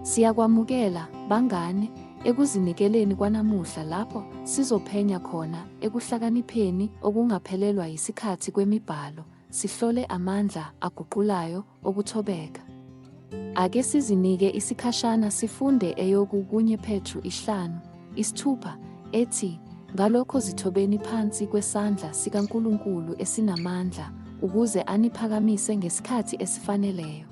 Siyakwamukela, bangane, ekuzinikeleni kwanamuhla lapho sizophenya khona ekuhlakanipheni okungaphelelwa yisikhathi kwemiBhalo, sihlole amandla aguqulayo okuthobeka. Ake sizinike isikhashana sifunde eyoku kunye Petru isihlanu, isithupha, ethi, Ngalokho zithobeni phansi kwesandla sikaNkulunkulu esinamandla, ukuze aniphakamise ngesikhathi esifaneleyo.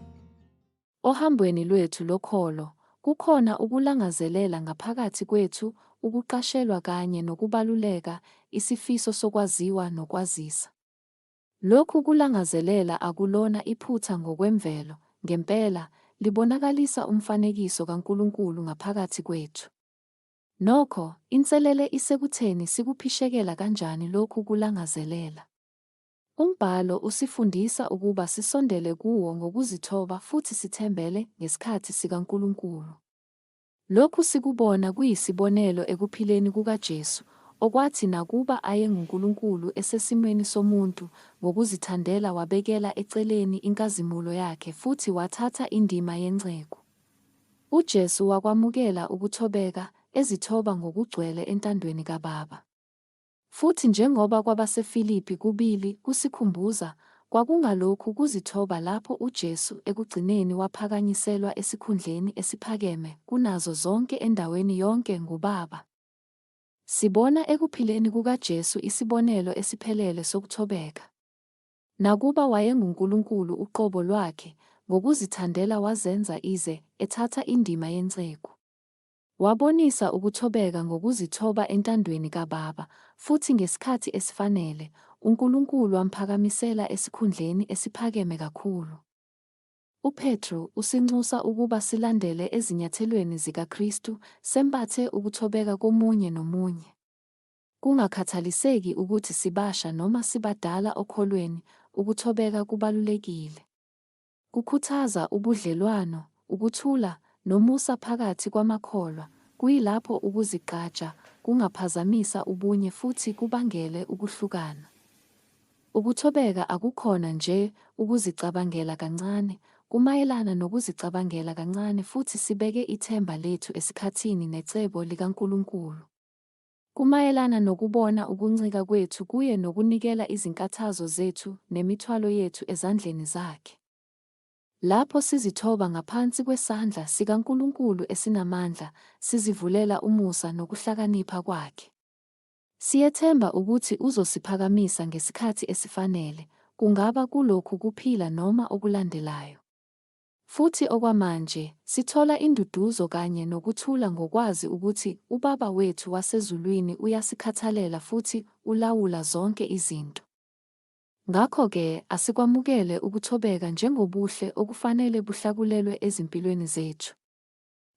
Ohambweni lwethu lokholo, kukhona ukulangazelela ngaphakathi kwethu, ukuqashelwa kanye nokubaluleka, isifiso sokwaziwa nokwazisa. Lokhu kulangazelela akulona iphutha ngokwemvelo, ngempela, libonakalisa umfanekiso kaNkulunkulu ngaphakathi kwethu. Nokho, inselele isekutheni sikuphishekela kanjani lokhu kulangazelela. Umbhalo usifundisa ukuba sisondele kuwo ngokuzithoba futhi sithembele ngesikhathi sikaNkulunkulu. Lokhu sikubona kuyisibonelo ekuphileni kukaJesu, okwathi nakuba ayenguNkulunkulu esesimweni somuntu, ngokuzithandela wabekela eceleni inkazimulo yakhe futhi wathatha indima yenceku. UJesu wakwamukela ukuthobeka, ezithoba ngokugcwele entandweni kaBaba. Futhi njengoba kwabaseFilipi kubili kusikhumbuza, kwakungalokhu kuzithoba lapho uJesu ekugcineni waphakanyiselwa esikhundleni esiphakeme kunazo zonke endaweni yonke nguBaba. Sibona ekuphileni kukaJesu isibonelo esiphelele sokuthobeka. Nakuba wayenguNkulunkulu uqobo lwakhe, ngokuzithandela wazenza ize ethatha indima yenceku. Wabonisa ukuthobeka ngokuzithoba entandweni kaBaba, futhi ngesikhathi esifanele, uNkulunkulu wamphakamisela esikhundleni esiphakeme kakhulu. UPetru usinxusa ukuba silandele ezinyathelweni zikaKristu, sembathe ukuthobeka komunye nomunye. Kungakhathaliseki ukuthi sibasha noma sibadala okholweni, ukuthobeka kubalulekile. Kukhuthaza ubudlelwano, ukuthula, nomusa phakathi kwamakholwa, kuyilapho ukuzigqaja kungaphazamisa ubunye futhi kubangele ukuhlukana. Ukuthobeka akukhona nje ukuzicabangela kancane, kumayelana nokuzicabangela kancane futhi sibeke ithemba lethu esikhathini necebo likaNkulunkulu. Kumayelana nokubona ukuncika kwethu kuye nokunikela izinkathazo zethu nemithwalo yethu ezandleni zakhe. Lapho sizithoba ngaphansi kwesandla sikaNkulunkulu esinamandla, sizivulela umusa nokuhlakanipha kwakhe. Siyethemba ukuthi uzosiphakamisa ngesikhathi esifanele, kungaba kulokhu kuphila noma okulandelayo. Futhi okwamanje, sithola induduzo kanye nokuthula ngokwazi ukuthi uBaba wethu waseZulwini uyasikhathalela futhi ulawula zonke izinto. Ngakho-ke, asikwamukele ukuthobeka njengobuhle okufanele buhlakulelwe ezimpilweni zethu.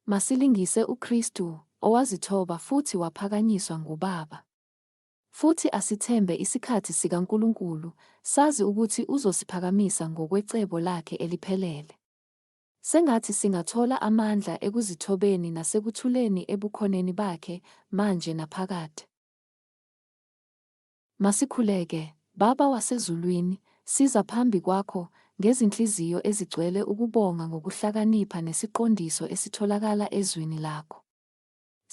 Masilingise uKristu, owazithoba futhi waphakanyiswa nguBaba. Futhi asithembe isikhathi sikaNkulunkulu, sazi ukuthi Uzosiphakamisa ngokwecebo Lakhe eliphelele. Sengathi singathola amandla ekuzithobeni nasekuthuleni eBukhoneni Bakhe, manje naphakade. Masikhuleke. Baba waseZulwini, siza phambi Kwakho, ngezinhliziyo ezigcwele ukubonga ngokuhlakanipha nesiqondiso esitholakala eZwini Lakho.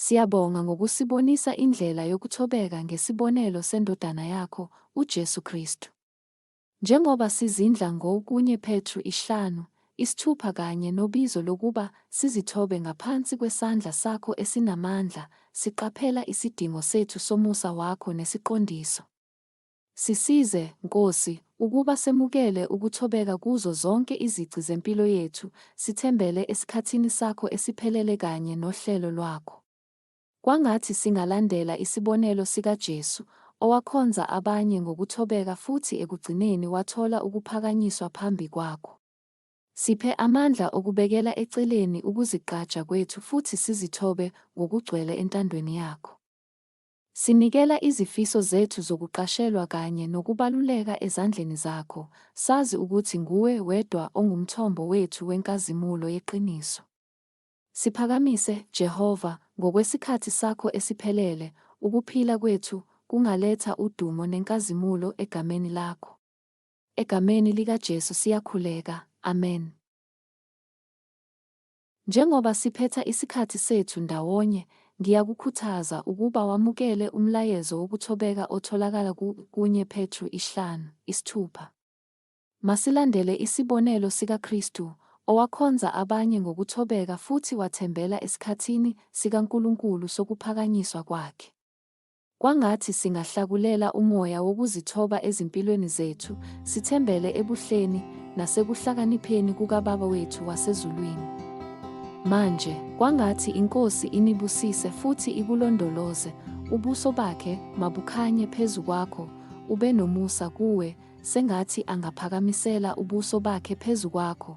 Siyabonga ngokusibonisa indlela yokuthobeka ngesibonelo seNdodana yakho, uJesu Kristu. Njengoba sizindla ngo kunye Petru isihlanu, isithupha kanye nobizo lokuba sizithobe ngaphansi kwesandla sakho esinamandla, siqaphela isidingo sethu somusa wakho nesiqondiso. Sisize, Nkosi, ukuba semukele ukuthobeka kuzo zonke izici zempilo yethu, sithembele esikhathini sakho esiphelele kanye nohlelo lwakho. Kwangathi singalandela isibonelo sikaJesu, owakhonza abanye ngokuthobeka futhi ekugcineni wathola ukuphakanyiswa phambi kwakho. Siphe amandla okubekela eceleni ukuzigqaja kwethu futhi sizithobe ngokugcwele entandweni yakho. Sinikela izifiso zethu zokuqashelwa kanye nokubaluleka ezandleni zakho, sazi ukuthi nguwe wedwa ongumthombo wethu wenkazimulo yeqiniso. Siphakamise, Jehova, ngokwesikhathi sakho esiphelele, ukuphila kwethu kungaletha udumo nenkazimulo egameni lakho. Egameni likaJesu siyakhuleka. Amen. Njengoba siphetha isikhathi sethu ndawonye, ngiyakukhuthaza ukuba wamukele umlayezo wokuthobeka otholakala ku kunye Petru isihlanu, isithupha. Masilandele isibonelo sikaKristu, owakhonza abanye ngokuthobeka futhi wathembela esikhathini sikaNkulunkulu sokuphakanyiswa kwakhe. Kwangathi singahlakulela umoya wokuzithoba ezimpilweni zethu, sithembele ebuhleni nasekuhlakanipheni kukaBaba wethu wasezulwini. Manje, kwangathi iNkosi inibusise futhi ikulondoloze, ubuso bakhe mabukhanye phezu kwakho, ube nomusa kuwe, sengathi angaphakamisela ubuso bakhe phezu kwakho,